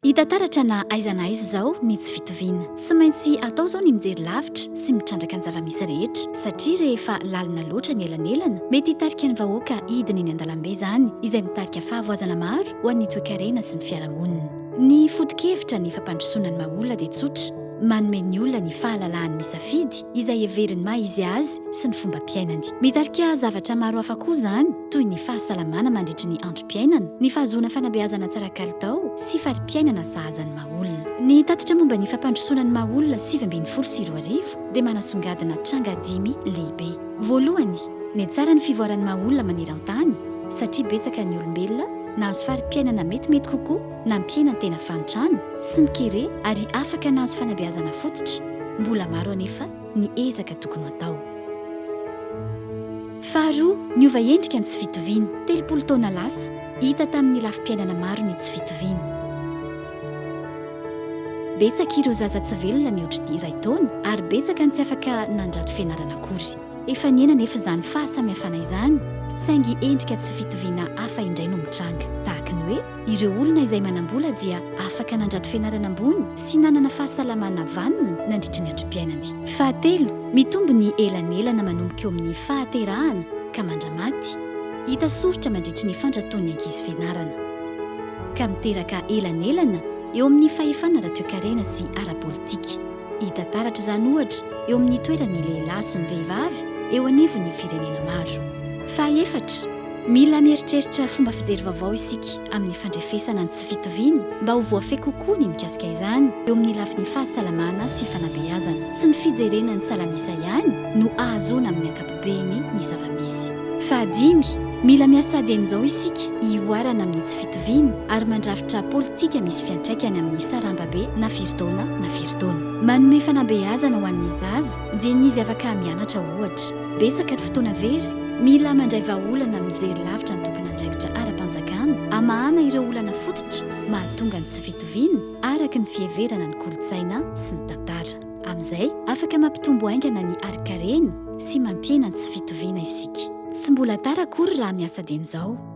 Hita taratra na aiza na aiza izao ny tsy fitoviana. Tsy maintsy atao izao ny mijery lavitra sy mitrandraka ny zava-misy rehetra, satria rehefa lalina loatra ny elanelana, mety hitarika ny vahoaka hidina eny an-dalambe izany, izay mitarika fahavoazana maro ho an'ny toekarena sy ny fiarahamonina. Ny foto-kevitra ny fampandrosoana ny maha-olona dia tsotra, manome ny olona ny fahalalahany misafidy izay heveriny maha-izy azy sy ny fombam-piainany. Mitarika zavatra maro hafa koa izany, toy ny fahasalamana mandritry ny androm-piainana, ny fahazoana fanabeazana tsara kalitao sy fari-piainana sahaza ny maha-olona. Ny tatitra momba ny fampandrosoana ny maha-olona sivy ambin'ny folo sy roa arivo dia manasongadina tranga dimy lehibe. Voalohany, ny tsara ny fivoaran'ny maha-olona maneran-tany satria betsaka ny olombelona nahazo fari-piainana metimety kokoa na mpiaina tena fahantrana sy ny kere ary afaka nahazo fanabeazana fototra. Mbola maro anefa ny ezaka tokony ho atao. Faharoa, niova endrika ny tsy fitoviana. Telopolo taona lasa, hita tamin'ny lafim-piainana maro ny tsy fitoviana. Betsaka ireo zaza tsy velona mihoatry ny iray taona ary betsaka ny tsy afaka nandrato fianarana akory. Efa nihena anefa izany fahasamihafana izany, saingy endrika tsy fitoviana hafa indray no mitranga, tahaky ny hoe. Ireo olona izay manam-bola dia afaka nandrato fianarana ambony sy nanana fahasalamana vanona nandritry ny androm-piainany. Fahatelo, mitombo ny elanelana manomboka eo amin'ny fahaterahana ka mandra-maty. Hita soritra mandritry ny fandratoan'ny ankizy fianarana. Ka miteraka elanelana eo amin'ny fahefana ara-toekarena sy ara-politika. Hita taratra izany ohatra eo amin'ny toeran'ny lehilahy sy ny vehivavy eo anivon'ny firenena maro. Fahaefatra, Mila mieritreritra fomba fijery vaovao isika amin'ny fandrefesana ny tsy fitoviana mba ho voafehy kokoa ny mikasika izany eo amin'ny lafiny fahasalamana sy fanabeazana. Tsy ny fijerena ny salan'isa ihany no ahazoana amin'ny ankapobeny ny zava-misy. Fahadimy, mila miasa ady amin'izao isika hihoarana amin'ny tsy fitoviana ary mandrafitra politika misy fiantraikany amin'ny sarambabe na firy taona na firy taona. Manome fanabeazana ho an'ny zaza dieny izy afaka mianatra ohatra. Betsaka ny fotoana very mila mandray vahaolana mijery lavitra ny tompon'andraikitra ara-panjakana hamahana ireo olana fototra mahatonga ny tsy fitoviana araka ny fiheverana ny kolontsaina sy ny tantara. Amin'izay, afaka mampitombo haingana ny harinkarena sy mampihena ny tsy fitoviana isika. Tsy mbola tara akory raha miasa dieny izao.